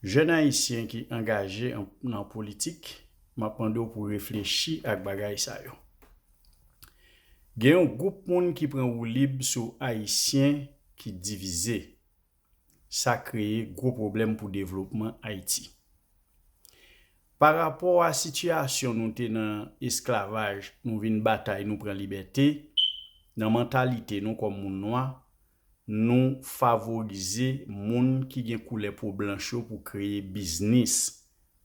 Jèn ayisyen ki angaje nan politik, m ap mande w pou reflechi ak bagay sa yo. Gen yon gwoup moun ki pran woulib sou ayisyen ki divize. Sa kreye gwo pwoblèm pou devlopman Ayiti. Pa rapò a sitiyasyon nou te nan esklavaj nou vin batay nou pran libète, nan mantalite nou kòm moun nwa, Nou favorize moun ki gen koulè po blanch yo pou kreye biznis.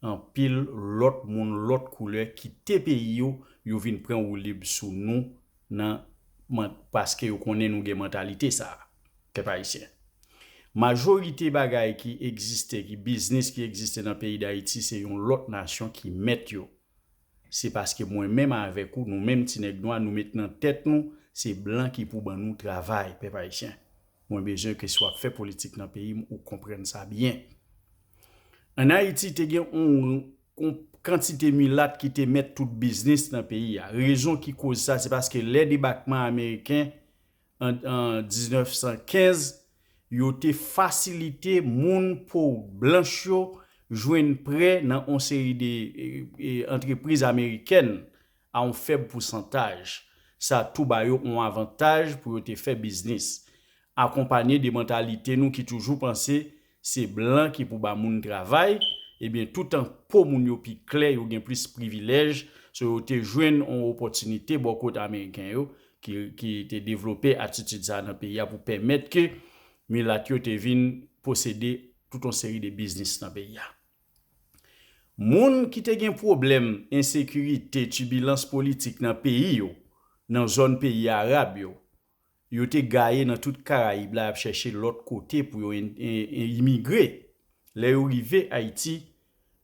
Anpil lòt moun lòt koulè kite peyi yo, yo vin pran woulib sou nou nan paske yo konnen nou gen mantalite sa a. Pèp ayisyen. Majorite bagay ki egziste, ki biznis ki egziste nan peyi Dayiti se yon lòt nasyon ki mèt yo. Se paske mwen menm avèk ou, nou menm ti nèg nwa, nou met nan tèt nou se blan ki pou ban nou travay, pèp ayisyen. Mwen bezwen ke si wap fè politik nan peyi m ou konprann sa byen. An Ayiti te gen yon kantite milat ki te mèt tout biznis nan peyi a. Rezon ki koz sa se paske lè debakman ameriken an 1915, yo te fasilite moun po blanch yo jwenn prè nan on seri de antrepriz amerikèn a on fèb pousantaj. Sa tou ba yo on avantaj pou yo te fè biznis. Akonpanye de mantalite nou ki toujou panse Se blan ki pou ba moun travay, ebyen toutan po moun yo pi klè yo gen plis privilèj, so yo te jwenn on opòtinite bò kot ameriken yo ki te devlope atitid sa nan peyi a pou pèmèt ke milat yo te vin posede tout on seri de biznis nan peyi a. Moun ki te gen pwoblèm ensekirite, tibilans politik nan peyi yo, nan zòn peyi arab yo, Yo te gaye nan tout Karayib la y ap chèche lòt kote pou yo imigre. Lè yo rive Ayiti,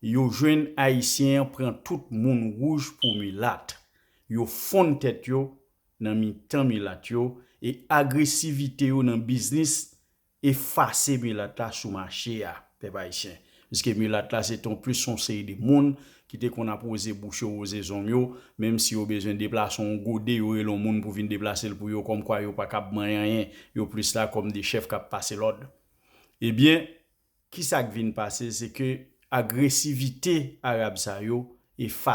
yo jwenn Ayisyen an pran tout moun wouj pou milat. Yo fonn tèt yo nan mitan milat yo e agresivite yo nan biznis Efase milat la sou mache a, pèp ayisyen. Piske milat la se te yon plis yon seri de moun ki te konn ap woze bouch yo, woze zong yo, menm si yo bezwen deplase yon gode, yo rele yon moun pou vin deplase l pou yo, kòm kwa yo pa kab manyen anyen, yo plis la kòm de chèf k ap pase lòd. Ebyen, ki sa k vin pase, se ke agresivite Arab sa yo efase.